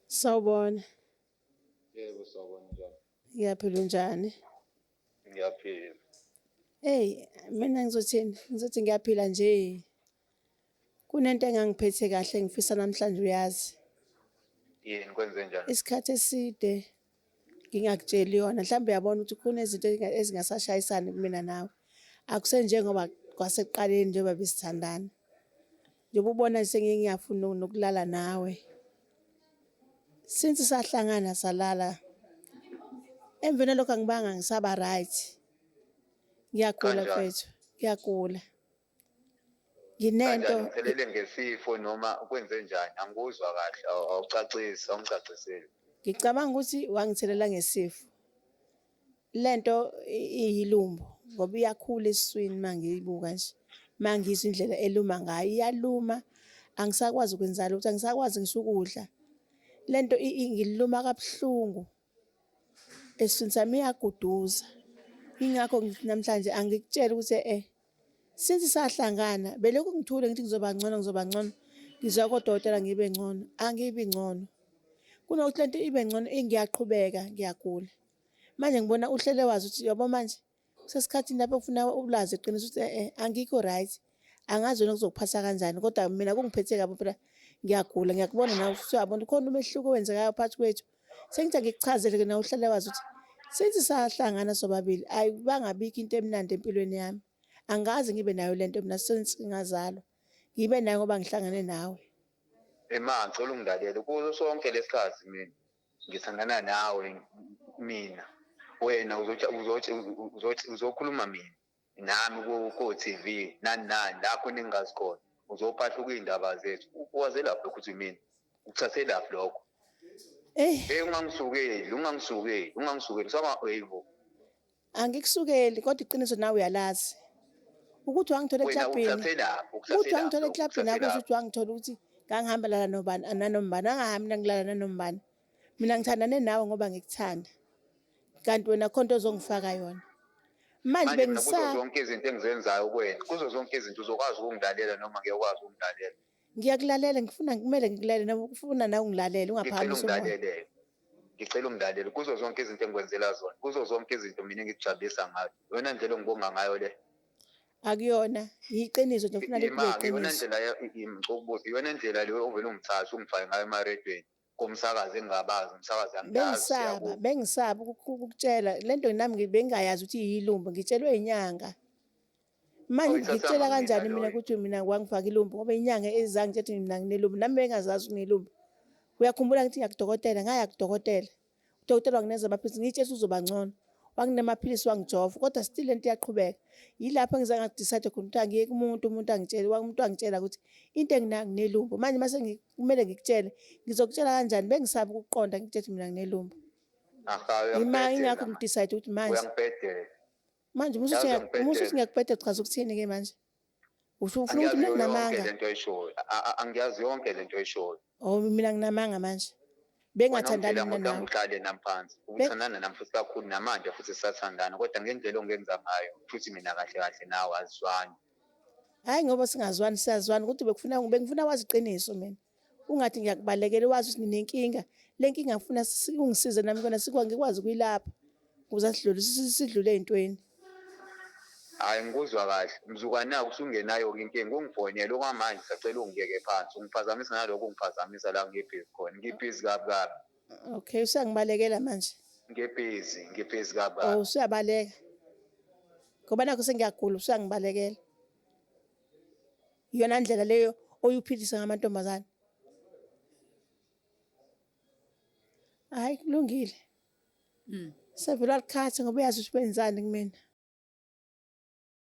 Sawubona. Yebo sawubona njani? Ngiyaphila unjani? Ngiyaphila. Hey, mina ngizothini? Ngizothi ngiyaphila nje. Kunento engangiphethe kahle ngifisa namhlanje uyazi. Yini kwenze njani? Isikhathi eside ngingakutsheli yona mhlawumbe uyabona ukuthi khona izinto ezingasashayisani kumina nawe akusenjengoba kwasekuqaleni njengoba besithandana njengoba ubona sengiye ngiyafuna nokulala nawe since sahlangana salala emveni lokho angibanga ngisaba right ngiyagula mfethu ngiyagula Nginento Kanjani uphelele ngesifo noma kwenze njani? Angikuzwa kahle, aw- awucacisi, awungicaciseli. ngicabanga ukuthi wangithelela ngesifo. Lento i- iyilumbo ngoba iyakhula esiswini mangiyibuka nje. Mangizwa indlela eluma ngayo, iyaluma. Angisakwazi ukwenza lutho, angisakwazi ngisho ukudla. Lento i- ingiluma kabuhlungu. esiswini sami iyaguduza ingakho ngithi namhlanje angikutshela ukuthi eh since sahlangana belokhu ngithule ngithi ngizoba ngcono ngizoba ngcono ngizwa kodokotela ngibe ngcono angibi ngcono kunokuthi lento ibe ngcono ngiyaqhubeka ngiyagula manje ngibona uhlele wazi ukuthi yabo manje Usesikhathini lapho kufuna ulazi iqiniso ukuthi eh angikho right. Angazi wena kuzokuphatha kanjani kodwa mina kungiphethe kabi phela ngiyagula ngiyakubona nawe futhi uyabona khona umehluko owenzekayo phakathi kwethu. Sengithi angikuchazele-ke nawe uhlale wazi ukuthi since sahlangana sobabili ayibangabikho into emnandi empilweni yami. Angikaze ngibe nayo le nto mina since ngingazalwa. Ngibe nayo ngoba ngihlangane nawe. Ema ngicela ungilalele kuso sonke lesikhathi mina ngithandana nawe mina wena uzokhuluma mina nami ko-tv nani nani la khona engingazi khona uzophahluka iy'ndaba zethu uwazelaphi lokho ukuthi mina ukuthathelaphi lokho eyi ungangisukeli ungangisukeli ungangisukeli saba eyibo Angikusukeli kodwa iqiniso nawe uyalazi. Ukuthi wangithola Wena eklabhini. ukusasela Ukuthi ukusasela wangithola eklabhini akusho ukuthi wangithola ukuthi ngangihamba lala nobani nanombani. Angahambi mina ngilala nanombani. Mina ngithandane nawe ngoba ngikuthanda. Kanti wena khona into ozongifaka yona. Manje manje mina kuzo bengisa zonke izinto engizenzayo kuwena kuzo zonke izinto uzokwazi ukungilalela noma ngeke ukwazi ukungilalela Ngiyakulalela ngifuna kumele ngikulalele noma ufuna nawe ungilalele ungaphakamisa umoya. Ngilalele. Ngicela ungilalele kuzo zonke izinto engikwenzela zona. Kuzo zonke izinto mina engikujabulisa ngayo. Iyona ndlela ongibonga ngayo le. Akuyona, yiqiniso nje ngifuna libe iqiniso. Iyona ndlela ngicela ukubuza, iyona ndlela le ovele ungithathe ungifake ngayo emaredweni. komsakazi engingabazi umsakazi angiyazi bengisaba bengisaba ukukutshela lento nami bengingayazi ukuthi yilumbu ngitshelwe inyanga manje ngitshela kanjani mina ukuthi mina wangifaka ilumbu ngoba inyanga ezangi ngithi mina nginelumbu nami bengazazi nginelumbu uyakhumbula ngithi ngiyakudokotela ngaya kudokotela Udokotela wangineza amaphilisi ngitshe usuzoba ngcono. Wanginika amaphilisi wangijova kodwa still lento iyaqhubeka. Yilapho engize ngadecide khona ukuthi angiyeke umuntu umuntu angitshele umuntu angitshela ukuthi into enginayo nginelumbo. Manje mase kumele ngikutshele ngizokutshela kanjani bengisaba ukuqonda ngithethe mina nginelumbo. Yima ingakho ngidecide ukuthi manje. Manje uma usuthi ngiyakubhedela chaza ukuthini ke manje? Usho ufuna ukuthi mina Angiyazi yonke nginamanga. lento oyishoyo. A- a- Angiyazi yonke lento oyishoyo. Oh mina nginamanga manje. Wena Bengathandani uphila mina ngodwa nawe. uhlale nami phansi. Ubuthandana nami futhi kakhulu namanje futhi sisathandana kodwa ngendlela ongenza ngayo futhi mina kahle kahle nawe asizwani. Hayi ngoba singazwani siyazwani kodwa bekufuna bengifuna wazi iqiniso mina. Ungathi ngiyakubalekela wazi ukuthi ninenkinga. Le nkinga ngifuna ungisize nami kona ngikwazi ukuyilapha ukuze sidlule ey'ntweni. Hhayi ngikuzwa kahle. Mzukanake usungenayo-ke inkinga. Ungifonele okwamanje ngisacela ungibeke phansi. Ungiphazamisa ngalokhu ongiphazamisa la ngibhizi khona. Ngibhizi kabi kabi. Okay, usuyangibalekela manje? Ngibhizi, ngibhizi kabi kabi. Oh, usuyabaleka. Ngoba nakhu sengiyagula usuyangibalekela. Iyona ndlela leyo oyuphilisa ngamantombazane. Hhayi kulungile. Sevele walikhatha ngoba uyazi ukuthi wenzani kumina.